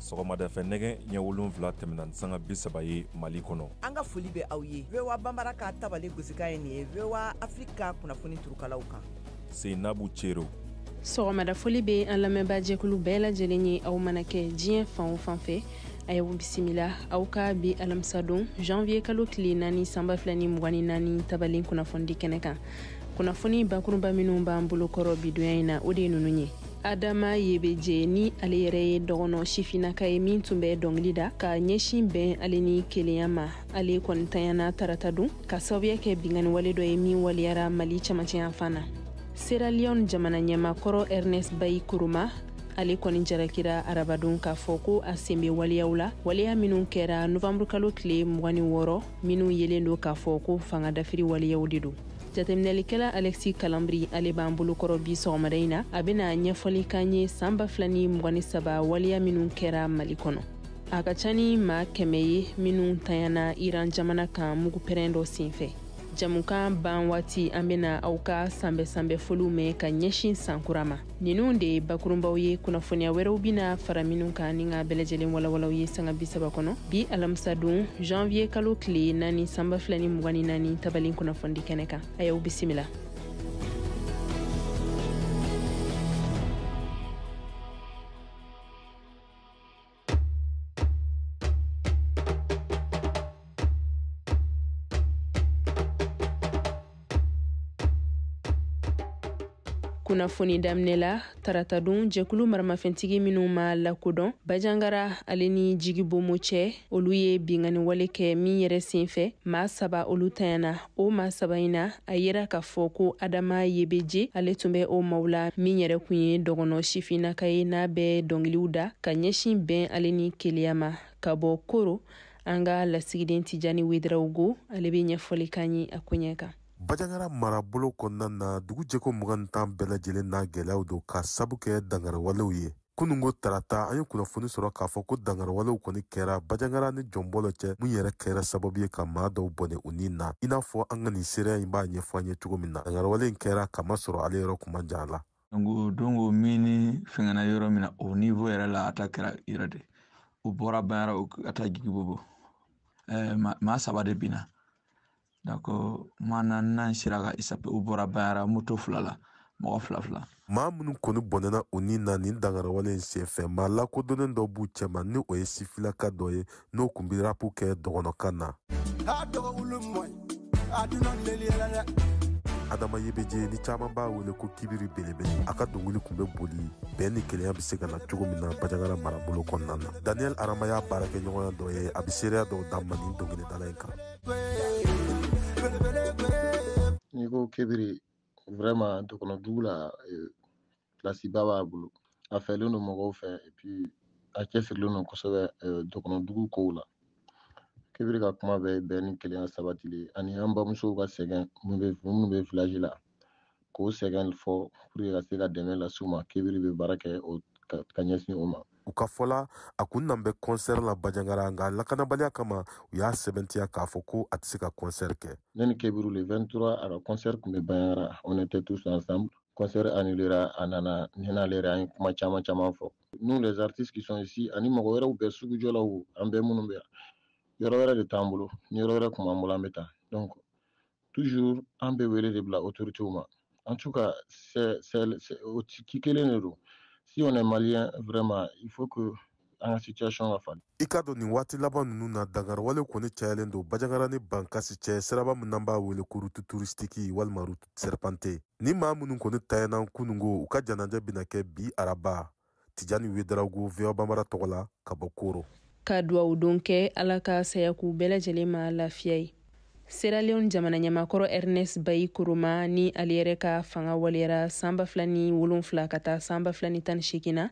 sɔgɔmada fɛ nɛgɛ ɲɛ wolonfila tɛmɛna ni sanga bi saba ye mali kɔnɔ an ka foli bɛ aw ye voa banbara ka tabale gosikan ye nin ye voa afiriki ka kunnafoni turukalaw kan seinabu cero sɔgɔmada foli bɛ an lamɛnba jɛkulu bɛɛ lajɛlen ye aw mana kɛ diɲɛ fan o fan fɛ a y'aw bisimila aw ka bi alamisadon janvier kalo tile naani san ba fila ni mugan ni naani tabalen kunnafoni di kɛnɛ kan kunnafoni bakurunba minnu b'an bolo kɔrɔ bi donya in na o de ye ninnu ye adama yebeje ni ale yɛrɛ ye dɔgɔnɔ sifinnaka ye min tun bɛ dɔngili da ka ɲɛsin bɛn ale ni kelenya ma ale kɔni tanyana tarata don ka sababuya kɛ bingani wale dɔ ye min waleyara mali camancɛ yanfan na sierra leone jamana ɲɛmaa kɔrɔ ernest bai koroma ale kɔni jarakira arabadon k'a fɔ ko a sen be waleyaw la waleya minw kɛra novanburukalo tile mugan ni wɔɔrɔ minw yelen don k'a fɔ ko fanga dafiri waleyaw de don jateminɛlikɛla alexis kalambry ale b'an bolokɔrɔ bi sɔgɔmada in na a bena ɲɛfɔli k'an ye san ba fila ni mugan ni saba waleya minw kɛra mali kɔnɔ a ka ca ni maa kɛmɛ ye minnu tanyana iran jamana kan mugupɛrɛn dɔ senfɛ jamukan ban waati an bena aw ka sanbɛ sanbɛ foliw mɛn ka ɲɛsin san kura ma ninnu de ye bakurunbaw ye kunnafoniya wɛrɛw bina fara minnu kan ni k'a bɛɛ lajɛlen walawala aw ye sanga bisaba kɔnɔ bi alamisadon janviye kalo tile naani san ba fila ni mugan ni naani tabalen kunnafoni di kɛnɛ kan a y'aw bisimila kunnafoni daminɛ la taratadon jɛkulu maramafɛntigi minnu ma lakodɔn bajangara ale ni jigibonbo cɛ olu ye bingani wale kɛ min yɛrɛ sen fɛ maa saba olu tanyana o maa saba in na a yera k'a fɔ ko adama yebeje ale tun bɛ o maaw la min yɛrɛ kun ye dɔgɔnɔ sifinnaka ye n'a bɛ dɔngiliw da ka ɲɛsin bɛn ale ni kelenya ma ka bɔ koro an ka lasigiden tijani wedrawogo ale bɛ ɲɛfɔli k'an ye a koɲɛ kan bajangara marabolo kɔnɔna na dugu jɛko mugan tan bɛɛ lajɛlen n'a gɛlɛyaw don ka sabu kɛ dangariwalew ye kununko tarata an ye kunnafoni sɔrɔ k'a fɔ ko dangariwalew kɔni kɛra bajangara ni jɔnbɔlɔ cɛ mun yɛrɛ kɛra sababu ye ka maa dɔw bɔnɛ u ni na i n'a fɔ an ka nin seereya in b'a ɲɛfɔ an ye cogo min na dangariwale in kɛra k'a masɔrɔ ale yɔrɔ kun man jan a la donko donko mini fɛngɛna yɔrɔ min na o nivo yɛrɛ la a ta kɛra yɛrɛ de u bɔra bajangara ka taa jigibonbo maa saba de binna D'accord maa naaninan sera ka échapper u bɔra bajagara moto fila la mɔgɔ fila fila maa minnu kɔni bɔnɛna u ni na nin dankariwale in senfɛ maa lakodɔnnen dɔ b'u cɛma ni o ye sifilaka dɔ ye n'o kun bi rapu kɛ dɔgɔnɔkan na a dɔgɔ wulu mɔye a duna leliyɛlɛ dɛ adama yebeje ni caman b'a wele ko kibiri belebele a ka dongili kun be boli bɛn ni kelenya be se ka na cogo min na bajagara marabolo kɔnɔna na daniɛl arama y'a baarakɛɲɔgɔnya dɔ ye a be seereya dɔw d'an ma nin dongilidala in kan n'i ko kibiri vraiment dɔgɔnɔ dugu la place ba b'a bolo a fɛlen don mɔgɔw fɛ et puis a cɛsirilen don kosɛbɛ dɔgɔnɔ dugu kow la kibiri ka kuma bɛ bɛn ni kelenya sabatili ani an bamusow ka sɛgɛn minnu bɛ village la k'o sɛgɛn fɔ pour ka se ka dɛmɛ las'u ma kibiri bɛ baara kɛ ka ɲɛsin o ma u ka fɔ la a kun nan bɛ kɔnsɛri la bajangara nka lakanabaliya kama u y'a sɛbɛntiya k'a fɔ ko a tɛ se ka kɔnsɛri kɛ ne ni kibiri le 23 a ka kɔnsɛri kun bɛ bajangara on était tous ensemble kɔnsɛri annulera a nana ne n'ale yɛrɛ an ye kuma caman caman fɔ nous les artistes qui sont ici ani mɔgɔ wɛrɛw bɛɛ sugujɔlaw an bɛɛ minnu bɛ yan yɔrɔ wɛrɛ de t'an bolo ni yɔrɔ wɛrɛ kun b'an bolo an bɛ taa donc toujours an bɛ wele de bila autorités ma en tout cas c'est c'est o ci kelen de don si on est malien vraiment il faut que an ka situation ka falen i k'a dɔn nin waati laban ninnu na dankariwalew kɔni cayalen don bajangara ni bankasi cɛ siraba min n'an b'a wele ko rutu turistiki walima rutu serpante ni maa minnu kɔni tayɛnan kunungo u ka janajɛ bɛna kɛ bi araba tijani wedarawogo voa bambara tɔgɔ la ka bɔ koro ka duwawu don kɛ ala ka saya k'u bɛɛ lajɛlen ma lafiya ye sierra leone jamana ɲɛmaa kɔrɔ ernest bayi koroma ni ale yɛrɛ ka fanga waleyara san ba fila ni wolonfila ka taa san ba fila ni tan ni seegin na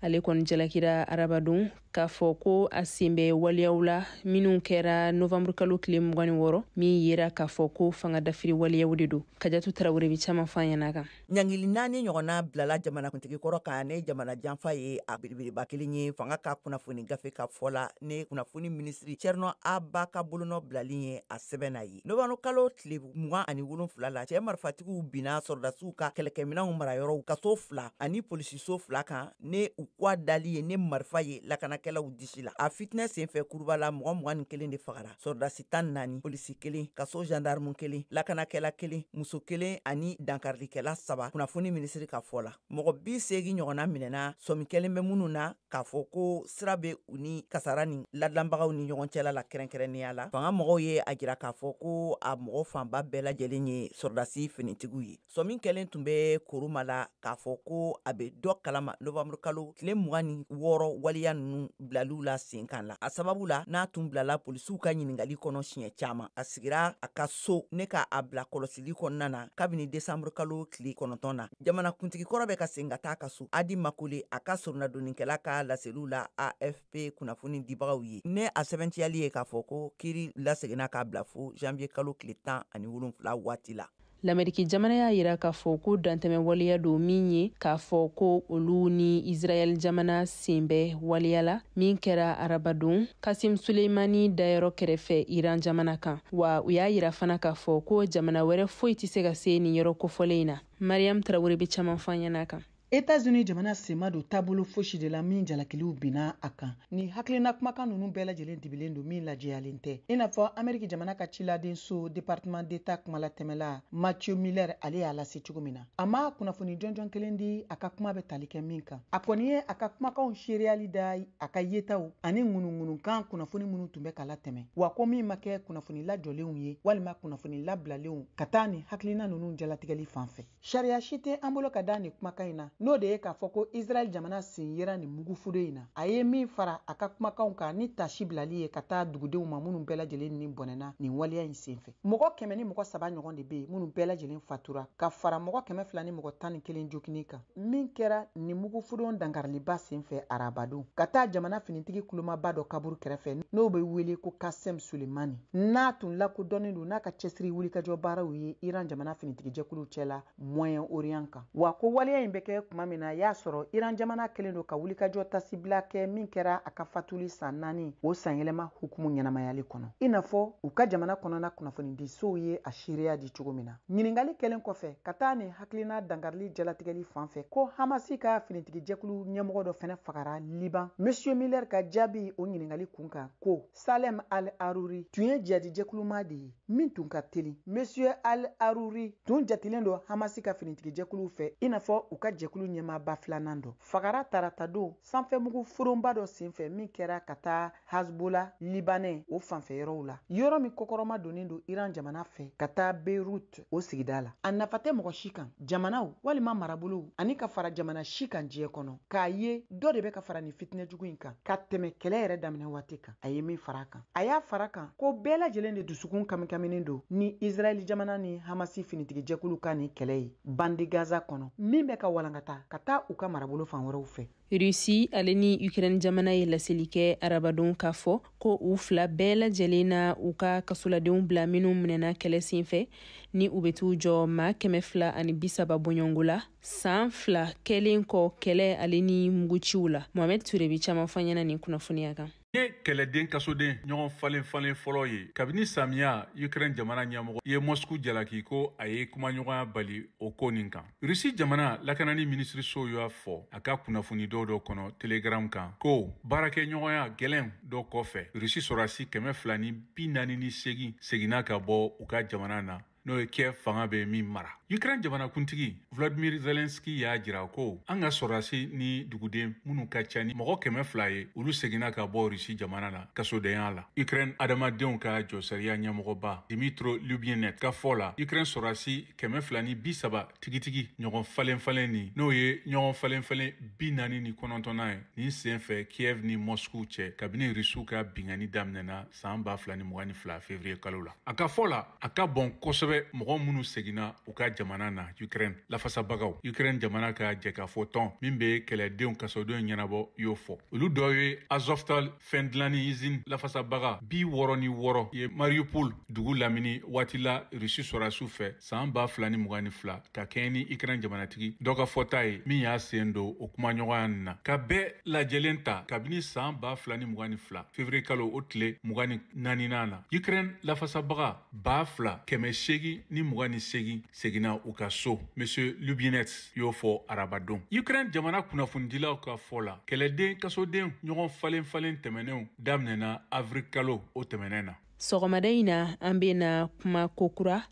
ale kɔni jalakira arabadon k'a fɔ ko a sen bɛ waleyaw la minnu kɛra novanburu kalo tile mugan ni wɔɔrɔ min yera k'a fɔ ko fanga dafiri waleyaw de don kajatu tarawele bi caman fɔ an ɲɛna kan Ɲangili naani ɲɔgɔnna bilala jamanakuntigi kɔrɔ kan ne jamana janfa ye a belebeleba kelen ye fanga ka kunnafoni gafe ka fɔ la ne kunnafoni minisiri cɛrinɔ a ba ka bolonɔ bilali ye a sɛbɛn na ye novanburu kalo tile mugan ani wolonfila la cɛ marifatigiw binna sɔrɔdasiw ka kɛlɛkɛminɛnw marayɔrɔw kaso fila ani polisiso fila kan ne u ka dalen ye ne marifa ye lakanakɛlaw disi la a fitinɛ senfɛ kuruba la mɔgɔ mugan ni kelen de fagara sɔrɔdasi tan ni naani polisi kelen kaso jandarimu kelen lakanakɛla kelen muso kelen ani dankarikɛla saba kunnafoni minisiri ka fɔ la mɔgɔ bi seegin ɲɔgɔnna minɛna sɔmi kɛlen bɛ minnu na k'a fɔ ko sira bɛ u ni kasara nin ladilanbagaw ni ɲɔgɔn cɛla la kɛrɛnkɛrɛnnenya la fanga mɔgɔw ye a jira k'a fɔ ko a mɔgɔ fanba bɛɛ lajɛlen ye sɔrɔdasi finitigiw ye sɔmi kɛlen tun bɛ koroma la k'a fɔ ko a bɛ dɔ kalama nowanburukalo tile mugan ni wɔɔrɔ waleya ninnu bilaliw la senkan la a sababu la n'a tun bilala polisiw ka ɲininkali kɔnɔ siɲɛ caman a sigira a ka so ni ka a bila kɔlɔsili kɔnɔna na kabini desanburukalo tile kɔnɔntɔn na jamanakuntigi kɔrɔ bɛ ka segin ka taa a ka so adi makole a ka soronadonnikɛla ka laseliw la afp kunnafoni dibagaw ye ni a sɛbɛntiyali ye k'a fɔ ko kiri laseginna k'a bila fo janvier kalo tile tan ani wolonfila waati la lameriki jamana y'a yira k'a fɔ ko dantɛmɛ waleya don min ye k'a fɔ ko olu ni israɛl jamana sen bɛ waleya la min kɛra arabadon kasim suleimani dayɔrɔ kɛrɛfɛ iran jamana kan wa u y'a yira fana k'a fɔ ko jamana wɛrɛ foyi tɛ se ka se nin yɔrɔ kofɔlen in na mariam tarawele bɛ caman fɔ an ɲɛna kan Etats-Unis jamana sen ma don taabolo fosi de la min jalakiliw binna a kan nin hakilina kumakan ninnu bɛɛ lajɛlen dibilen don min lajɛyalen tɛ i n'a fɔ ameriki jamana ka ciladen so département d'état kumalatɛmɛla matthew miller ale y'a lase cogo min na a ma kunnafoni jɔnjɔn kelen di a ka kuma bɛ tali kɛ min kan a kɔni ye a ka kumakanw seereyali da a ka yetaw ani ŋunuŋunukan kunnafoni minnu tun bɛ ka latɛmɛ wa ko min ma kɛ kunnafoni lajɔlenw ye walima kunnafoni labilalenw ka taa nin hakilina ninnu jalatigɛli fan fɛ Sariya si tɛ an bolo ka da nin kumakan in na n'o de ye k'a fɔ ko Israɛl jamana sen yera nin mugufudon in na. A ye min fara a ka kumakanw kan ni tasi bilali ye ka taa dugudenw ma minnu bɛɛ lajɛlen ni bɔnɛna nin waleya in senfɛ. Mɔgɔ kɛmɛ ni mɔgɔ saba ɲɔgɔn de bɛ yen minnu bɛɛ lajɛlen fatura, ka fara mɔgɔ kɛmɛ fila ni mɔgɔ tan ni kelen joginni kan. Min kɛra nin mugufudon dankariliba senfɛ arabadon, ka taa jamana finitigi kolomaba dɔ kaburu kɛrɛfɛ n'o bɛ wele ko Qassem Soleimani. n'a tun lakodɔnnen don n'a ka cɛsiri wulikajɔ baaraw ye iran jamana finitigijɛkuluw cɛla moyen orient kan wa ko waleya in bɛ kɛ kuma min na y'a sɔrɔ iran jamana kɛlen don ka wulikajɔ tasibila kɛ min kɛra a ka fatuli san naani o sanyɛlɛma hukumu ɲɛnamayali kɔnɔ i n'a fɔ u ka jamana kɔnɔna kunnafonidisow ye a seereya di cogo min na ɲininkali kɛlen kɔfɛ ka taa nin hakilina dankarili jalatigɛli fan fɛ ko hamasi ka finitigijɛkulu ɲɛmɔgɔ dɔ fɛnɛ fagara liban monsieur miller ka jaabi o ɲininkali kun kan ko Salem al-Aruri tun ye jihadijɛkuluma de ye min tun ka teli. Monsieur al-Aruri tun jatelen don Hamasi ka finitigijɛkuluw fɛ i n'a fɔ u ka jɛkulu ɲɛmaaba filanan dɔ fagara taratadon sanfɛmugu fudonba dɔ senfɛ min kɛra ka taa Hezbollah libanais o fanfɛ yɔrɔw la, yɔrɔ min kɔkɔrɔmadonnen don Iran jamana fɛ ka taa Beirut. o sigida la a nafa tɛ mɔgɔ si kan jamanaw walima marabolow ani ka fara jamana si kan diɲɛ kɔnɔ k'a ye dɔ de bɛ ka fara nin fitinɛ jugu in kan ka tɛmɛ kɛlɛ yɛrɛ daminɛ waati kan a ye min fara a kan a y'a fara kan ko bɛɛ lajɛlen de dusukun kamikaminen don ni israɛli jamana ni hamasi finitigijɛkulu ka nin kɛlɛ ye bande gaza kɔnɔ min bɛ ka walankata ka taa u ka marabolo fan wɛrɛw fɛ Russie ale ni Ukraine jamana ye laseli kɛ arabadon k'a fɔ ko u fila bɛɛ lajɛlen na u ka kasoladenw bila minnu minɛna kɛlɛ senfɛ ni u bɛ t'u jɔ maa kɛmɛ fila ani bisaba bɔɲɔgɔn la saan fila kɛlen kɔ kɛlɛ ale ni muguciw la mohamɛd ture be caaman f'an ɲɛna nin kunnafoniya kan ye kɛlɛden kasoden ɲɔgɔn falen falen fɔlɔ ye kabini samiya ukraine jamana ɲɛmɔgɔ ye mosku jalaki ko a ye kumaɲɔgɔnya bali o ko nin kan rusi jamana lakanani minisiriso y'a fɔ a ka kunnafoni dɔw dɔ kɔnɔ telegram kan ko baarakɛɲɔgɔnya gwɛlɛn dɔ kɔfɛ rusi sɔrɔdasi kɛmɛ fila ni bi naani ni seegin seginna ka bɔ u ka jamana na n'o ye kiev fanga bɛ min mara ukraine jamanakuntigi vladimir zelenski y'a jira ko an ka sɔrɔdasi ni duguden minnu ka ca ni mɔgɔ kɛmɛ fila ye olu seginna ka bɔ rusi jamana na kasodenya la ukraine adamadenw ka josariya ɲɛmɔgɔba dmytro lubinets ka fɔ la ukraine sɔrɔdasi kɛmɛ fila ni bi saba tigitigi ɲɔgɔn falen falen ni n'o ye ɲɔgɔn falen falen bi naani ni kɔnɔntɔnnan ye nin sen fɛ kiev ni mosku cɛ kabini rusiw ka bingani daminɛna saan ba fila ni mugan ni fila fevriye kalo la a ka fɔ la a ka bon kosɛbɛ mɔgɔ minnu seginna u ka jamana na ukraine lafasabagaw ukraine jamana ka jɛkafɔ tɔn min be kɛlɛdenw kasodenw ɲɛnabɔ y'o fɔ olu dɔ ye azovstal fɛn dilanni izini lafasabaga bi wɔrɔ ni wɔrɔ ye mariupol dugu lamini waati la rusi sɔrasiw fɛ saan ba fila ni mugan ni fila ka kɛɲɛ ni ukraine jamanatigi dɔ ka fɔta ye min y'a sen don o kumaɲɔgɔnya nin na ka bɛɛ lajɛlen ta kabini saan ba fila ni mugan ni fila fevriye kalo o tile mugan ni naaninan na ukraine lafasabaga ba fila kɛmɛ seegin ni mugan ni seegin seginna u ka so monsieur lubinets y'o fɔ arabadon ukraine jamana kunnafonidilaw ka fɔ la kɛlɛden kasoden ɲɔgɔn falen falen tɛmɛnenw daminɛna avril kalo o tɛmɛnɛn na sɔgɔmada in na an bena kuma kokura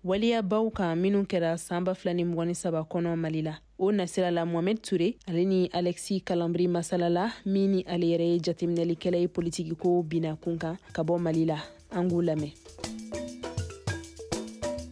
waliyabaw kan minw kɛra san ba fila ni mugan ni saba kɔnɔ mali la o nasira la mohamɛd ture ale ni alɛksi kalambri masalala min ni ale yɛrɛ ye jateminɛlikɛla ye politikiko bina kun kan ka bɔ mali la an k'u lamɛn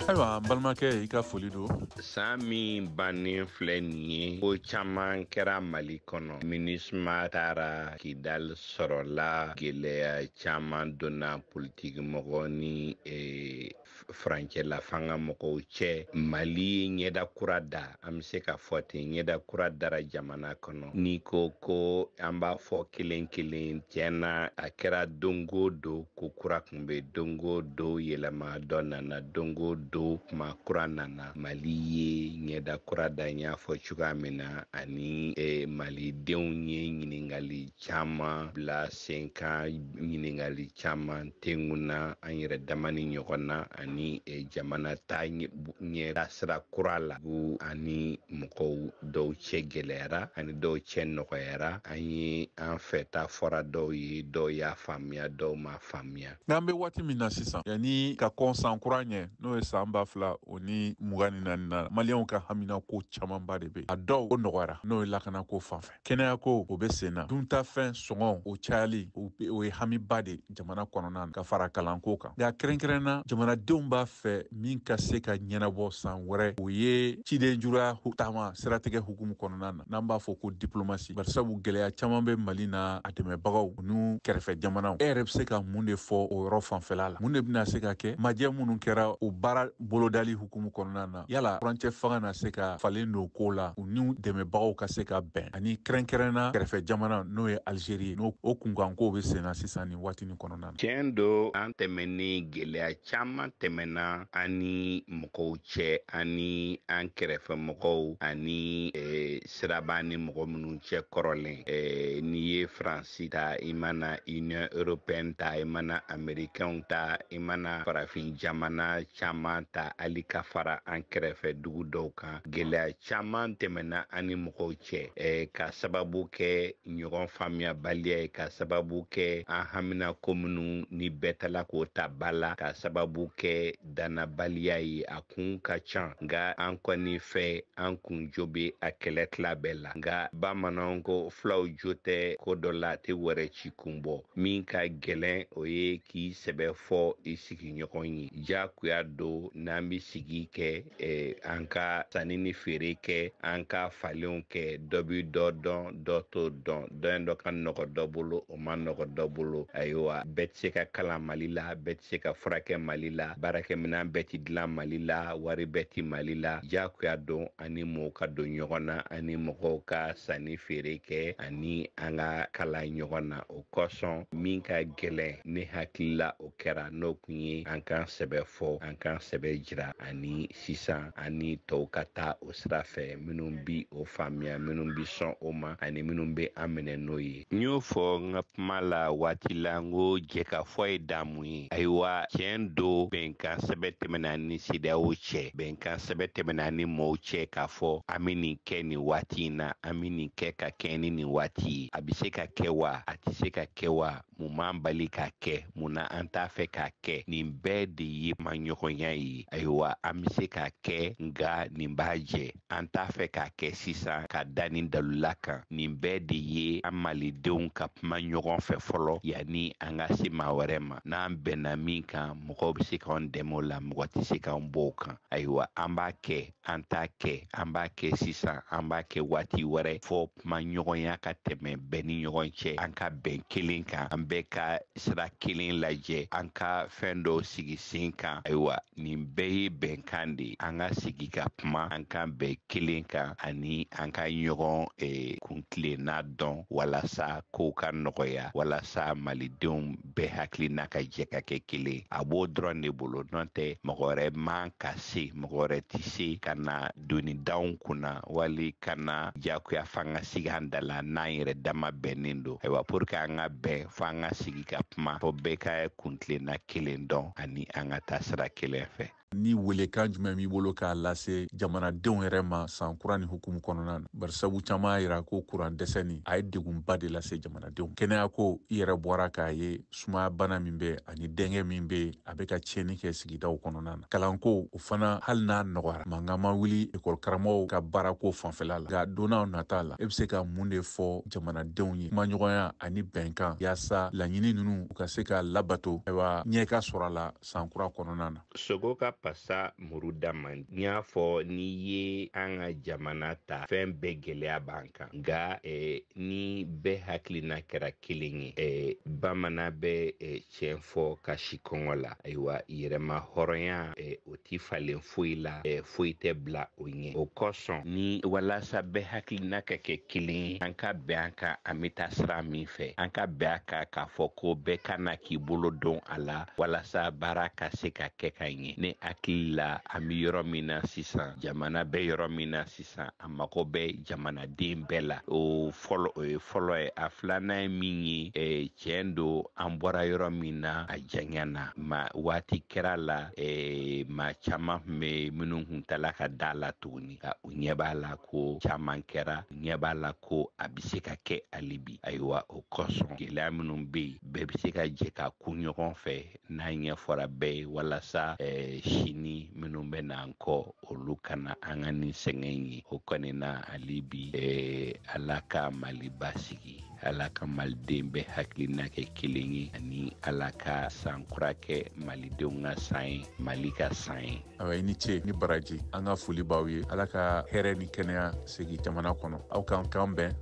ayiwa balimakɛ i ka foli don saan min bannen filɛ nin ye ko caaman kɛra mali kɔnɔ minusma taara kidal sɔrɔla gɛlɛya caman donna politiki mɔgɔ ni eh, furancɛla fanga mɔgɔw cɛ mali ye ɲɛda kura da an bɛ se k'a fɔ ten ɲɛda kura dara jamana kɔnɔ n'i ko ko an b'a fɔ kelen kelen tiɲɛ na a kɛra don go don ko kura kun bɛ don go don yɛlɛma dɔ nana don go don kuma kura nana mali ye ɲɛda kura da n y'a fɔ cogoya min na ani eh, malidenw ye ɲininkali caman bila sen kan ɲininkali caman tengunna an yɛrɛ dama ni ɲɔgɔn na ani e, jamana ta ɲɛdasira kura la bu an ni mɔgɔw dɔw cɛ gɛlɛyara an ni dɔw cɛ nɔgɔyara an ye an fɛta fɔra dɔw ye dɔw y'a faamuya dɔw m'a faamuya nk'an be waati min na sisan yanni ka kɔn san kura ɲɛ n'o ye saan ba fila o ni mugan ni naani na maliyɛnw ka haminako camanba de be a dɔw o nɔgɔyara n'o ye lakanako fan fɛ kɛnɛyako o bɛ sen na duntafɛn sɔngɔ o cayali o ye hamiba de jamana kɔnɔna na ka fara kalanko kan nka kɛrɛnkɛrɛnna jamanadenw b'a fɛ min ka se ka ɲɛnabɔ san wɛrɛ o ye ciden juruya taama siratigɛ hukumu kɔnɔna na n'an b'a fɔ ko diplomasi barisabu gɛlɛya caman bɛ mali n'a dɛmɛbagaw n'u kɛrɛfɛ jamanaw e yɛrɛ bɛ se ka mun de fɔ o yɔrɔ fanfɛla la mun de bɛna se ka kɛ majɛ minnu kɛra o baara bolodali hukumu kɔnɔna na yala furancɛ fanga na se ka falen don ko la u n'u dɛmɛbagaw ka se ka bɛn ani kɛrɛnkɛrɛnna kɛrɛfɛ jamana n'o ye alizeri n'o o kunkankow be senna sisan nin waati nin kɔnɔna na tiɲɛ don an tɛmɛn ni gwɛlɛya caaman tɛmɛnna an ni mɔgɔw cɛ ani an kɛrɛfɛ mɔgɔw ani eh, sira b'an ni mɔgɔ minnu cɛ kɔrɔlen eh, n'i ye faransi ta i mana union européenne ta i mana amerikɛnw ta i mana farafin jamana caman ta hali ka fara an kɛrɛfɛ dugu dɔw kan gɛlɛya caman tɛmɛna an ni mɔgɔw cɛ eh, ka sababu kɛ ɲɔgɔn faamuyabaliya ye ka sababu kɛ an haminako minnu ni bɛɛ tala k'o ta b'a la ka sababu kɛ dannabaliya ye a kun ka can nka an kɔni fɛ an kun jo be a kɛlɛ tila bɛɛ la nka bamananw ko fulaw jo tɛ ko dɔ la a tɛ wɛrɛ ci kun bɔ min ka gwɛlɛn o ye k'i sɛbɛ fɔ i sigiɲɔgɔn ye jagoya don n'an be sigi kɛ eh, an ka sanni ni feere kɛ an ka falenw kɛ dɔ be dɔ dɔn dɔ t'o dɔn dɔ dɔ ka nɔgɔ dɔ bolo o ma nɔgɔ dɔ bolo ayiwa bɛɛ tɛ se ka kalan mali la bɛɛ tɛ se ka furakɛ mali la baarakɛminɛn bɛɛ tɛ dilan mali la wari bɛɛ tɛ mali la jagoya don an ni mɔgɔw ka don ɲɔgɔn na an ni mɔgɔw ka sanni feere kɛ ani an ka kala ɲɔgɔn na o kosɔn min ka gɛlɛn ne hakili la o kɛra n'o kun ye an k'an sɛbɛ fɔ an k'an sɛbɛ jira ani sisan an ni tɔw ka taa o sira fɛ minnu bi o faamuya minnu bi sɔn o ma ani minnu bɛ an minɛ n'o ye n y'o fɔ n ka kuma la waati la n ko jɛkafɔ ye damu ye ayiwa tiɲɛ don bɛnkan sɛbɛ tɛmɛna an ni cedeao cɛ bɛnkan sɛbɛ tɛmɛna an ni mɔɔw cɛ k'a fɔ an bɛ nin kɛ nin waati in na an bɛ nin kɛ ka kɛɲɛ ni nin waati ye a bɛ se ka kɛ wa a tɛ se ka kɛ wa mun b'an bali k'a kɛ mun na an t'a fɛ k'a kɛ nin bɛɛ de ye kumaɲɔgɔnya ye ayiwa an bɛ se k'a kɛ nka nin b'a jɛ an t'a fɛ k'a kɛ sisan ka da nin dalula kan nin bɛɛ de ye an malidenw ka kuma ɲɔgɔn fɛ fɔlɔ yanni an ka se maa wɛrɛ ma n'an bɛnna min kan mɔgɔw bɛ se k'an dɛmɛ o la mɔgɔ tɛ se k'an bɔ o kan ayiwa an b'a kɛ an t'a kɛ an b'a kɛ sisan an b'a kɛ waati wɛrɛ fo kumaɲɔgɔnya ka tɛmɛ bɛɛ ni ɲɔgɔn cɛ an ka bɛn kelen kan an bɛɛ ka sira kelen lajɛ an ka fɛn dɔw sigi sen kan ayiwa nin bɛɛ ye bɛnkan de ye an ka sigi ka kuma an ka bɛn kelen kan ani an ka ɲɔgɔn eh, kuntilenna dɔn walasa kow ka nɔgɔya walasa malidenw bɛɛ hakilina ka jɛ ka kɛ kelen a b'o dɔrɔn de bolo n'o tɛ mɔgɔ wɛrɛ man ka se mɔgɔ wɛrɛ tɛ se ka na doni d'anw kunna wali ka na jagoya fanga sigi an da la n'an yɛrɛ dama bɛnnen don ayiwa pour que an ka bɛn fo an ka sigi ka kuma fo bɛɛ ka kuntilenna kelen dɔn ani an ka taa sira kelen fɛ ni welekan jumɛn b'i bolo k'a lase jamanadenw yɛrɛ ma san kura nin hukumu kɔnɔna na bari sabu caman y'a yira ko kuran dɛsɛ nin a ye degunba de lase jamanadenw kɛnɛyako i yɛrɛ bɔra k'a ye sumaya bana min bɛ ani dɛngɛ min bɛ a bɛ ka tiɲɛni kɛ sigidaw kɔnɔna na kalanko o fana hali n'a nɔgɔyara mankan ma wuli ekɔli karamɔgɔw ka baarako fanfɛla la nka donnaw nata la e bɛ se ka mun de fɔ jamanadenw ye kumaɲɔgɔnya ani bɛnkan yaasa laɲini ninnu u ka se ka labato ayiwa ɲɛ ka sɔrɔ a la san kura kɔnɔna na sogo ka pasa muru da man di i y'a fɔ n'i ye an ka jamana ta fɛn bɛɛ gwɛlɛya b'an kan nka eh, ni bɛɛ hakilina kɛra kelen ye eh, bamanan bɛ eh, tiɲɛ fɔ ka si kɔngɔ la ayiwa yɛrɛmahɔrɔnya eh, o ti falen foyi la eh, foyi tɛ bila o ɲɛ o kosɔn ni walasa bɛɛ hakilina ka kɛ kelen ye an ka bɛn an ka an bɛ taa sira min fɛ an ka bɛn a kan k'a fɔ ko bɛɛ ka na k'i bolo don a la walasa baara ka se ka kɛ ka ɲɛ ne hakili la an bɛ yɔrɔ min na sisan jamana bɛ yɔrɔ min na sisan a mago bɛ jamanaden bɛɛ la o fɔlɔ o ye fɔlɔ ye a filanan ye min ye eh, tiɲɛ don an bɔra yɔrɔ min na a janyana ma waati kɛra la eh, maa caman tun bɛ minnu tun tala ka da a la tuguni u ɲɛ b'a la ko caman kɛra u ɲɛ b'a la ko a bɛ se ka kɛ hali bi ayiwa o kosɔn gɛlɛya minnu bɛ yen bɛɛ bɛ se ka jɛ k'u kun ɲɔgɔn fɛ n'a ɲɛfɔra bɛɛ ye walasa eh, sini minnu bɛ n'an kɔ olu kana an ka nin sɛgɛn ye o kɔni na hali bi eh, ala ka mali basigi ala ka maliden bɛɛ hakilina kɛ kelen ye ani ala ka san kura kɛ malidenw ka san ye mali ka san ye awa i ni ce ni baraji an ka foli b'aw ye ala ka hɛrɛ ni kɛnɛya segi jamana kɔnɔ aw k'an kan bɛn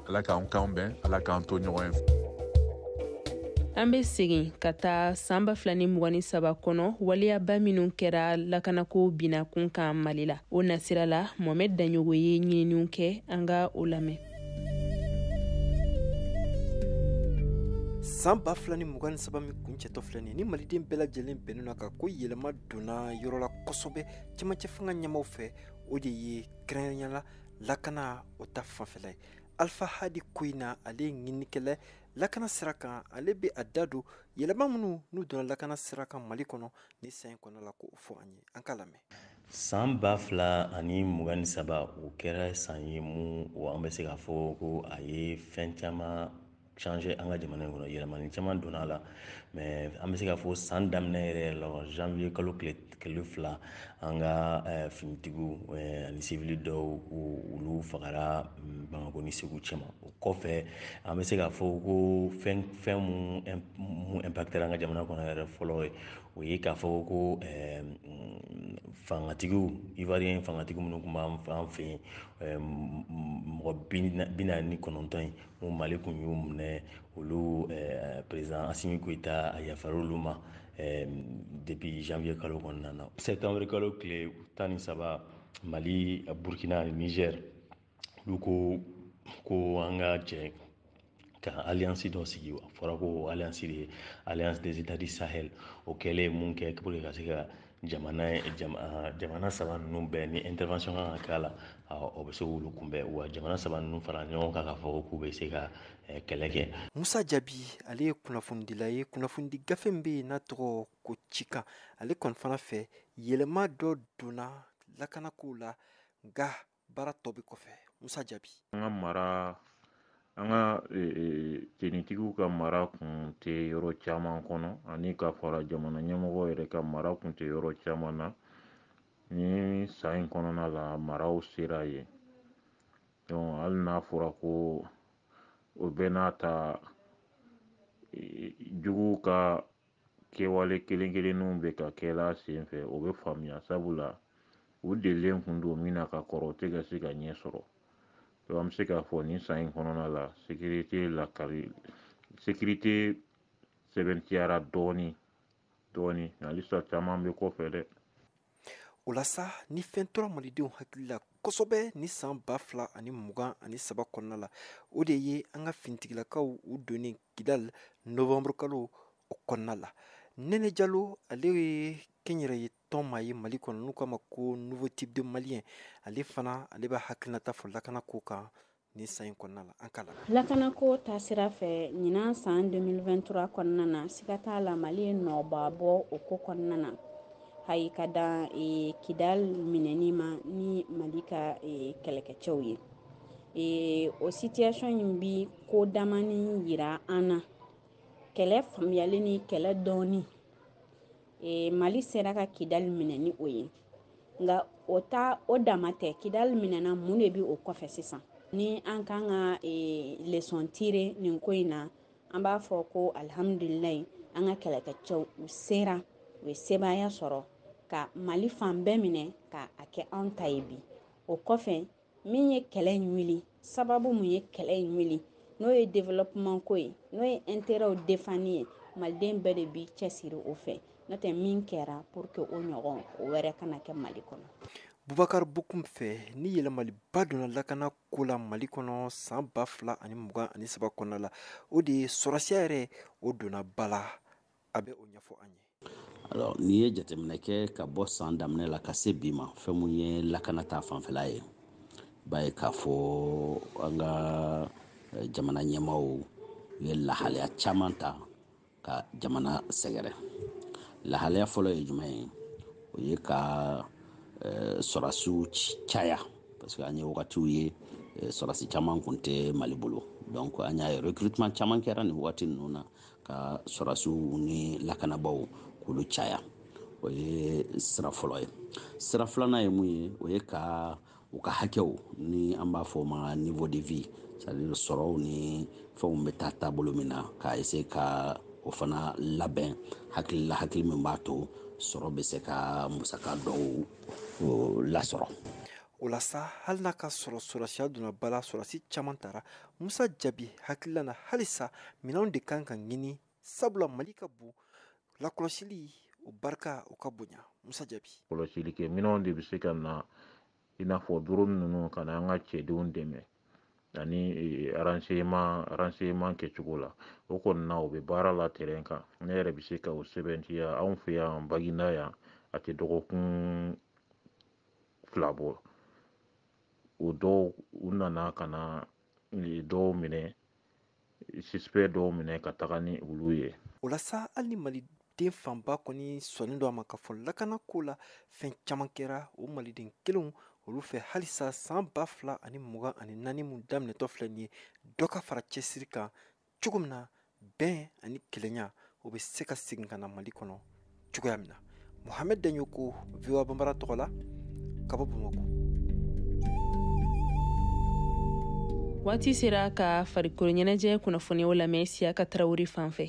ala k'an kan bɛn ala k'an to ɲɔgɔn ye an bɛ segin ka taa san ba fila ni mugan ni saba kɔnɔ waleyaba minw kɛra lakanako binakun kan mali la o nasira la mohamɛd daɲɔgɔ ye ɲininiw kɛ an ka o lamɛn san ba fila ni mugan ni saba min kuncɛtɔ filɛ nin ye ni maliden bɛɛ lajɛlen bɛnnen a kan ko yɛlɛma donna yɔrɔ la kosɛbɛ cɛmancɛ fanga ɲɛmaaw fɛ o de ye kɛrɛnkɛrɛnya la lakana o ta fanfɛla ye alfa hadi koyina ale ye ɲinikɛla lakana sira kan ale bɛ a da don yɛlɛma minnu n'u donna lakana sira kan mali kɔnɔ ni san in kɔnɔ la k'o fɔ an ye an ka lamɛn san ba fila ani mugan ni saba o kɛra san ye mun o an bɛ se k'a fɔ ko a ye fɛn caman changer an ka jamana in kɔnɔ yɛlɛmani caman donna a la mais an bɛ se k'a fɔ san daminɛ yɛrɛ la janvier kalo tile fila an ka eh, finitigiw eh, ani sivili dɔw olu fagara mm, bamako ni segu cɛma kɔfɛ an bɛ se k'a fɔ ko fɛn mun impactera an ka jamana kɔnɔ yɛrɛ fɔlɔ ye o ye k'a fɔ ko fangatigiw ivoirien fangatigi minnu tun b'an fan fɛ yen mɔgɔ binaani ni kɔnɔntɔn in mun mali kun y'u minɛ olu perezidan asimi goyita a yafara olu ma depuis janvier kalo kɔnɔna na septembre kalo tile tan ni saba mali burukina ni nizɛri olu ko an ka jɛ ka alliance dɔ sigi a fɔra ko alliance de alliance des états du sahel o kɛlen mun kɛ pour que ka se ka jamana jamana saba ninnu bɛɛ ni intervention kan ka k'a la o bɛ se k'olu kunbɛn wa jamana saba ninnu fara ɲɔgɔn kan k'a fɔ k'u bɛ se ka kɛlɛ kɛ musa jabi ale ye kunnafonidila ye kunnafonidi gafe min bɛ yen n'a tɔgɔ ko cikan ale kɔni fana fɛ yɛlɛma dɔ donna lakanakow la nka baara tɔ bɛ kɔfɛ musa jabi an ka mara an ka e, e, tenitigiw ka mara kun tɛ yɔrɔ caman kɔnɔ ani ka fara jamana ɲɛmɔgɔ yɛrɛ ka mara kun tɛ yɔrɔ caman na ni san in kɔnɔna la maraw sera yen donc hali n'a fɔra ko o bɛɛ n'a ta e, juguw ka kɛwale kelen kelenninw bɛ ka kɛla senfɛ o bɛ faamuya sabula u delilen kun don min na ka kɔrɔ o tɛ ka se ka ɲɛ sɔrɔ donc an bɛ se k'a fɔ nin san in kɔnɔna la sekirite sɛbɛntiyara dɔɔni dɔɔni nka halisa caman bɛ kɔfɛ dɛ o la sa ni fɛn tora malidenw hakili la kosɛbɛ ni san ba fila ani mugan ani saba kɔnɔna la o de ye an ka finitigilakaw u donnen kidali novembre kalo o kɔnɔna la nɛnɛ jalo ale ye kɛnyɛrɛye tɔn maa ye mali kɔnɔ n'u k'a ma ko nouveau type de malien ale fana ale b'a hakilinata fɔ lakana ko kan nin san in kɔnɔna la an k'a lamɛn lakanako ta sira fɛ ɲinan san 2023 kɔnɔna na siga t'a la mali ye nɔba bɔ o ko kɔnɔna na hali ka dan e, kidal minɛni ma ni mali ka e, kɛlɛkɛcɛw ye e, o situation in bi ko damani yira an na kɛlɛ faamuyali ni kɛlɛ dɔnni e, mali sera ka kidali minɛ ni o ye nka o ta o dama tɛ kidali minɛna mun de bi o kɔfɛ sisan ni an kan ka e, leçon tirer nin ko in na an b'a fɔ ko alihamudulilayi an ka kɛlɛkɛcɛw u sera u ye sebaaya sɔrɔ ka mali fan bɛɛ minɛ ka a kɛ an ta ye bi o kɔfɛ min ye kɛlɛ in wuli sababu mun ye kɛlɛ in wuli n'o ye développement ko ye n'o ye intérêt defani ye maliden bɛɛ de b'i cɛsiri o fɛ n'o tɛ min kɛra pour que o ɲɔgɔn o wɛrɛ kana kɛ mali kɔnɔ bubakar bokum fɛ ni yɛlɛmaliba donna lakana ko la mali kɔnɔ san ba fila ani mugan ani saba kɔnɔna la o de ye sɔrɔsiya yɛrɛ o donna ba la a bɛ o ɲɛfɔ an ye alors n'i ye jateminɛ kɛ ka bɔ san daminɛ la ka se bi ma fɛn mun ye lakana ta fanfɛla ye b'a ye k'a fɔ an ka eh, jamana ɲɛmaaw ye lahalaya caman ta ka jamana sɛgɛrɛ lahalaya fɔlɔ ye jumɛn ye o ye ka eh, sɔrasiw caya parce que an ye wagatiw ye eh, sɔrasi caman kun tɛ mali bolo donc an y'a ye recrutement caman kɛra nin wagati ninnu na ka sɔrasiw ni lakanabaaw k'olu caya o ye sira fɔlɔ ye sira filanan ye mun ye o ye ka u ka hakɛw ni an b'a fɔ o ma niveau de vie c'est-à-dire sɔrɔw ni fɛnw bɛ taa taabolo min na ka essayer ka o fana labɛn hakilila hakili min b'a to sɔrɔ bɛ se ka musaka dɔw lasɔrɔ o la sa hali n'a k'a sɔrɔ sɔrɔsiya donna ba la sɔrɔsi caman tara musa jabi hakilila na halisa minɛnw de kan ka ɲini sabula mali ka bon lakɔlɔsili o barika o ka bonya musa jabi kɔlɔsili kɛ minɛnw de bɛ se ka na i n'a fɔ doroni ninnu ka na an ka cɛdenw dɛmɛ ani e, renseignement renseignement kɛcogo la o kɔni na o bɛ baara la terrain kan ne yɛrɛ bɛ se ka o sɛbɛntiya anw fɛ yan baginda yan a tɛ dɔgɔkun fila bɔ o dɔw u nana ka na dɔw minɛ suspect dɔw minɛ ka taga ni olu ye o la sa hali ni maliden fanba kɔni sɔnnen don a ma k'a fɔ lakana ko la fɛn caman kɛra o maliden kelenw olu fɛ halisa san ba fila ani mugan ani naani min daminɛtɔ filɛ nin ye dɔ ka fara cɛsiri kan cogo min na bɛn ani kelenya o bɛ se ka segin ka na mali kɔnɔ cogoya min na mohamɛd daɲɔkɔ voa banbara tɔgɔ la ka bɔ bamakɔ waati sera ka farikolo ɲɛnajɛ kunnafoniw lamɛn siyaka tarawele fan fɛ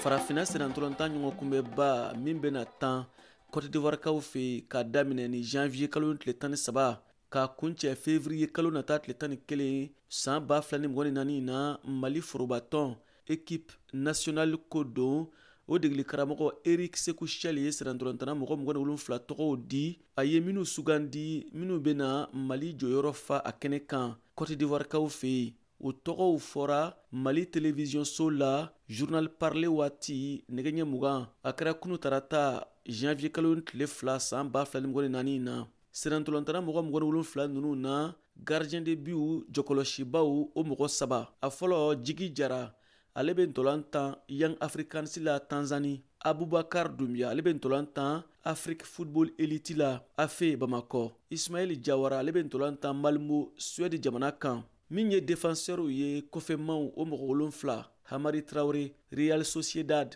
farafina sennantolantan ɲɔgɔn kunbɛba min bɛna tan kɔtidiwarikaw fɛ yen k'a daminɛ ni janvier kalo tile tan ni saba k'a kuncɛ fevriye kalo nata tile tan ni kelen san ba fila ni mugan ni naani na mali forobatɔn ekipe nasiyonali ko don o degeli karamɔgɔ erik seku shɛli ye sennantolantanna mɔgɔ mugan ni wolonfila tɔgɔw di a ye minnu sugandi minnu bɛna mali jɔyɔrɔ fa a kɛnɛ kan kɔtidiwarikaw fɛ yen o tɔgɔw fɔra mali televiziyɔnso la journal parlé waati nɛgɛ ɲɛ mugan a kɛra kunu tarata janvier kalo tile fila san ba fila ni mugan ni naani na sennantolantanna mɔgɔ mugan ni wolonfila ninnu na gardien de butw jɔkɔlɔsibaw o mɔgɔ saba a fɔlɔ jigi jara ale bɛ ntolan tan young africans la tanzani abubakar dumbia ale bɛ ntolan tan afrik football elite la afe bamakɔ ismail jawara ale bɛ ntolan tan malmo suwɛdi jamana kan min ye défenseurw ye kɔfɛmaw o mɔgɔ wolonfila hamari traore real sociedad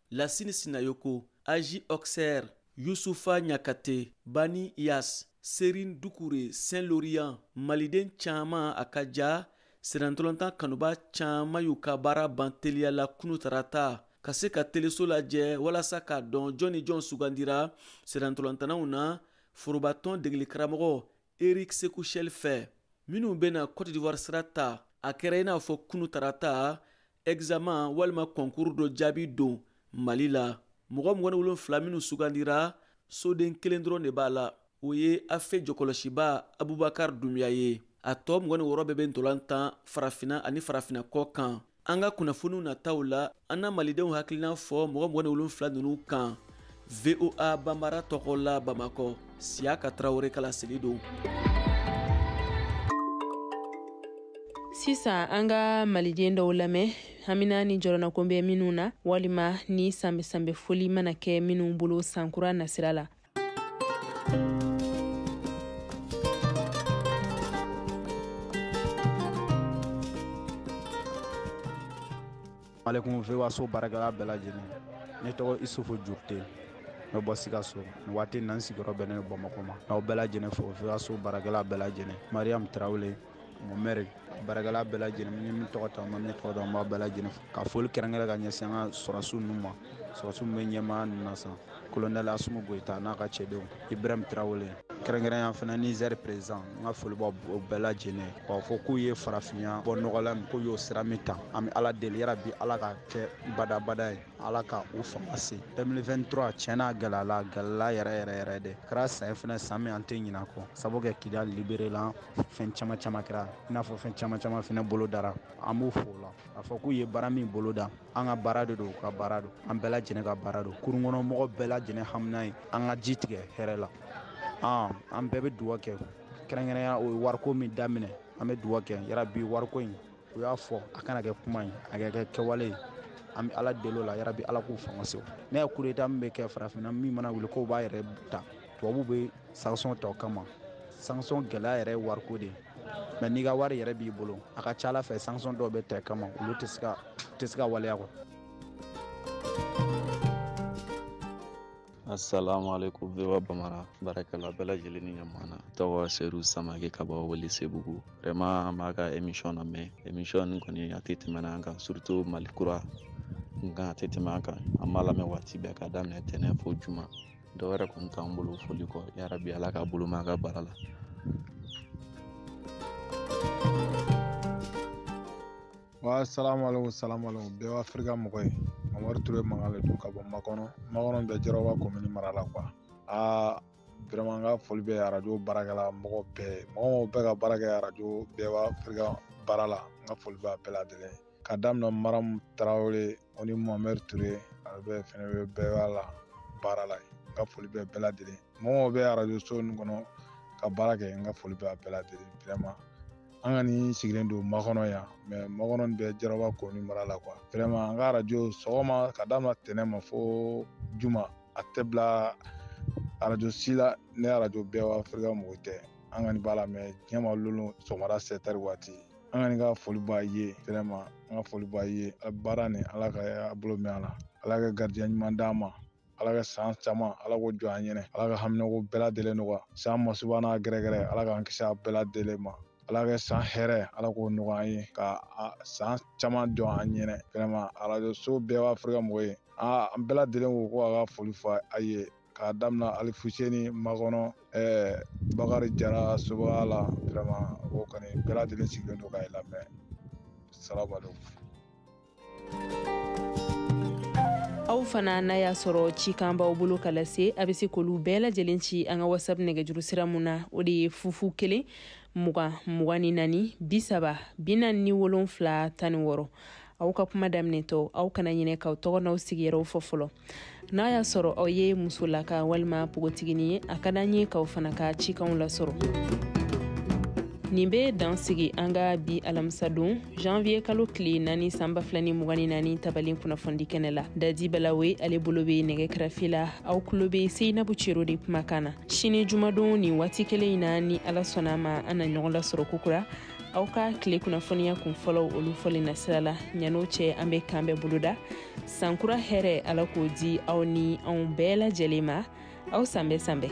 lasini sinayoko aj auxerre yusufa ɲakate bani yas serin dukure saint lorient maliden caaman a ka ja sennantolantan kanubaa caaman y'u ka baara ban teliya la kunu tarata ka se ka teleso lajɛ walasa k'a dɔn jɔn ni jɔn sugandira sennantolantannaw na forobatɔn degelikaramɔgɔ erik seku shɛl fɛ minnu bɛna cote d'ivoire sira ta a kɛra i n'a fɔ kunu tarata examen walima kɔnkuru dɔ jaabi don mali la mɔgɔ mugan ni wolonfila minnu sugandira soden kelen dɔrɔn de b'a la o ye afe jɔkɔlɔsiba abubakar dumbia ye a tɔ mugan ni wɔɔrɔ bɛɛ bɛ ntolan tan farafina ani farafina kɔ kan an ka kunnafoniw nataw la an na malidenw hakilina fɔ mɔgɔ mugan ni wolonfila ninnu kan voa banbara tɔgɔ la bamakɔ siyaka tarawele kala seli don sisan an ka maliden dɔw lamɛn hamina ni jɔrɔnanko bɛ minnu na walima ni sanbɛsanbɛ foli mana kɛ minnu bolo sankura nasira la Alekum VOA so baarakɛla bɛɛ lajɛlen ne tɔgɔ isufu jurute ne bɔ sikaso nin waati na n sigiyɔrɔ bɛnnen bɛ bamakɔ ma n'aw bɛɛ lajɛlen fo VOA so baarakɛla bɛɛ lajɛlen mariyamu tarawele mɔmɛri baarakɛla bɛɛ lajɛlen ni min tɔgɔ ta ma min tɔgɔ dɔn an b'a bɛɛ lajɛlen fo ka foli kɛrɛnkɛrɛn ka ɲɛsin an ka sɔrɔsiw ninnu ma sɔrɔsiw min bɛ ɲɛmaa ninnu na sisan kolonɛli asimi goyita n'a ka cɛdenw ibrahim tarawele kɛrɛnkɛrɛnya fana nizɛri perezan n ka foli b'o bɛɛ lajɛlen k'a fɔ k'u ye farafinya bɔ nɔgɔ la min k'u y'o sira min ta an bɛ ala deli yarabi ala k'a kɛ badabada ye ala ka u fanga se 2023 tiɲɛna gɛlɛyala gɛlɛya yɛrɛ yɛrɛ yɛrɛ de kɛra san fana san min an tɛ ɲina kɔ sabu kɛ kidali liberela fɛn caman caman kɛra i n'a fɔ fɛn caman caman fana bolodara an b'u fo o la k'a fɔ k'u ye baara min boloda an ka baara de don u ka baara don an bɛɛ lajɛlen ka baara don kurun kɔnɔ mɔgɔ bɛɛ lajɛlen hamina ye an ka ji tigɛ hɛrɛ la an bɛɛ bɛ duwa kɛ kɛrɛnkɛrɛnya o ye wariko min daminɛ an bɛ duwa kɛ yarabi wariko in u y'a fɔ a kana kɛ kuma ye a ka kɛ kɛwale ye an bɛ ala deli o la yarabi ala k'u fanga se ne ye kudeta min bɛ kɛ farafinna min mana wuli k'o b'a yɛrɛ ta tubabu bɛ sanction ta o kama sanction gɛlɛya yɛrɛ ye wariko de ye mɛ n'i ka wari yɛrɛ b'i bolo a ka ca a la fɛ sanction dɔw bɛ ta i kama olu tɛ se ka tɛ se ka waleya kɔ asalaamaaleykum VOA bamara baarakɛla bɛɛ lajɛlen ni ɲamana tɔgɔ seru samake ka bɔ welesebugu vraiment an b'a ka émission lamɛn émission nin kɔni a tɛ tɛmɛna an kan surtout mali kura nka a tɛ tɛmɛ an kan an b'a lamɛn waati bɛɛ ka daminɛ tɛnɛ fo juma dɔ wɛrɛ kɔni t'an bolo foli kɔ yarabi ala k'a bolo mɛn a ka baara la wa salamaleko salamaleko VOA afirika mɔgɔ ye mamari ture makan le don ka bɔ makɔnɔ makɔnɔ bɛ jarawa komini mara la kuwa aa vraiment n ka foli bɛ arajo baarakɛla mɔgɔ bɛɛ mɔgɔ mɔgɔ bɛ ka baara kɛ arajo VOA afirika baara la n ka foli b'a bɛɛ lajɛlen ka daminɛ maramu tarawele o ni mohamɛri ture ale bɛ fɛnɛ bɛ VOA la baara la n ka foli bɛ bɛɛ lajɛlen mɔgɔ bɛ arajo so nin kɔnɔ ka baara kɛ n ka foli bɛ a bɛɛ lajɛlen vraiment an kɔni sigilen don makɔnɔ yan mɛ makɔnɔ nin bɛ jaraba komini mara la kuwa vraiment an ka arajo sɔgɔma ka daminɛ tɛnɛ ma fo juma a tɛ bila arajo si la ni arajo VOA afirika mɔgɔ tɛ an kɔni b'a lamɛn diɲɛ ma lon o lon sɔgɔmada sɛtɛri waati an kɔni ka foli b'a ye vraiment an ka foli b'a ye a baara nin ala ka a bolo mɛn a la ala ka garijɛ ɲuman d'a ma ala ka san caman ala k'o jɔ an ɲɛnɛ ala ka haminako bɛɛ lajɛlen nɔgɔya san masuba n'a gɛrɛgɛrɛ ala k'an kisi a bɛɛ lajɛlen ma ala ka san hɛrɛ ala k'o nɔgɔya an ye ka san caman jɔ an ɲɛnɛ vraiment arajo so VOA afirika mɔgɔ ye an bɛɛ lajɛlen ko ko a ka foli fɔ a ye k'a daminɛ alifuseni makɔnɔ ɛɛ bakari jara sobaga la vraiment o kɔni bɛɛ lajɛlen sigilen don ka i lamɛn salamu alaikum aw fana n'a y'a sɔrɔ cikan b'aw bolo ka lase a bɛ se k'olu bɛɛ lajɛlen ci an ka whatsapp nɛgɛjuru sira mun na o de ye fu fu kelen mugan mugan ni naani bi saba bi naani ni wolonfila tan ni wɔɔrɔ aw ka kuma daminɛtɔ aw kana ɲinɛ k'aw tɔgɔ n'aw sigiyɔrɔw fɔ fɔlɔ n'a y'a sɔrɔ aw ye musolaka walima pogotigini ye a ka d'an ye k'aw fana ka cikanw lasɔrɔ nin bɛ dan sigi an ka bi alamisadon janvier kalo tile naani san ba fila ni mugan ni naani tabalen kunnafoni kɛnɛ la dadi balawe ale bolo bɛ nɛgɛ kɛrɛfɛ la aw kulo bɛ seyinabu cero de kumakan na sini jumadon nin waati kelen in na ni ala sɔnna ma an na ɲɔgɔn lasɔrɔ kokura aw ka tile kunnafoniya kun fɔlɔw olu fɔlen na sira la ɲan'o cɛ an bɛ kan bɛɛ boloda sankura hɛrɛ ala k'o di aw ni anw bɛɛ lajɛlen ma aw san bɛɛ san bɛɛ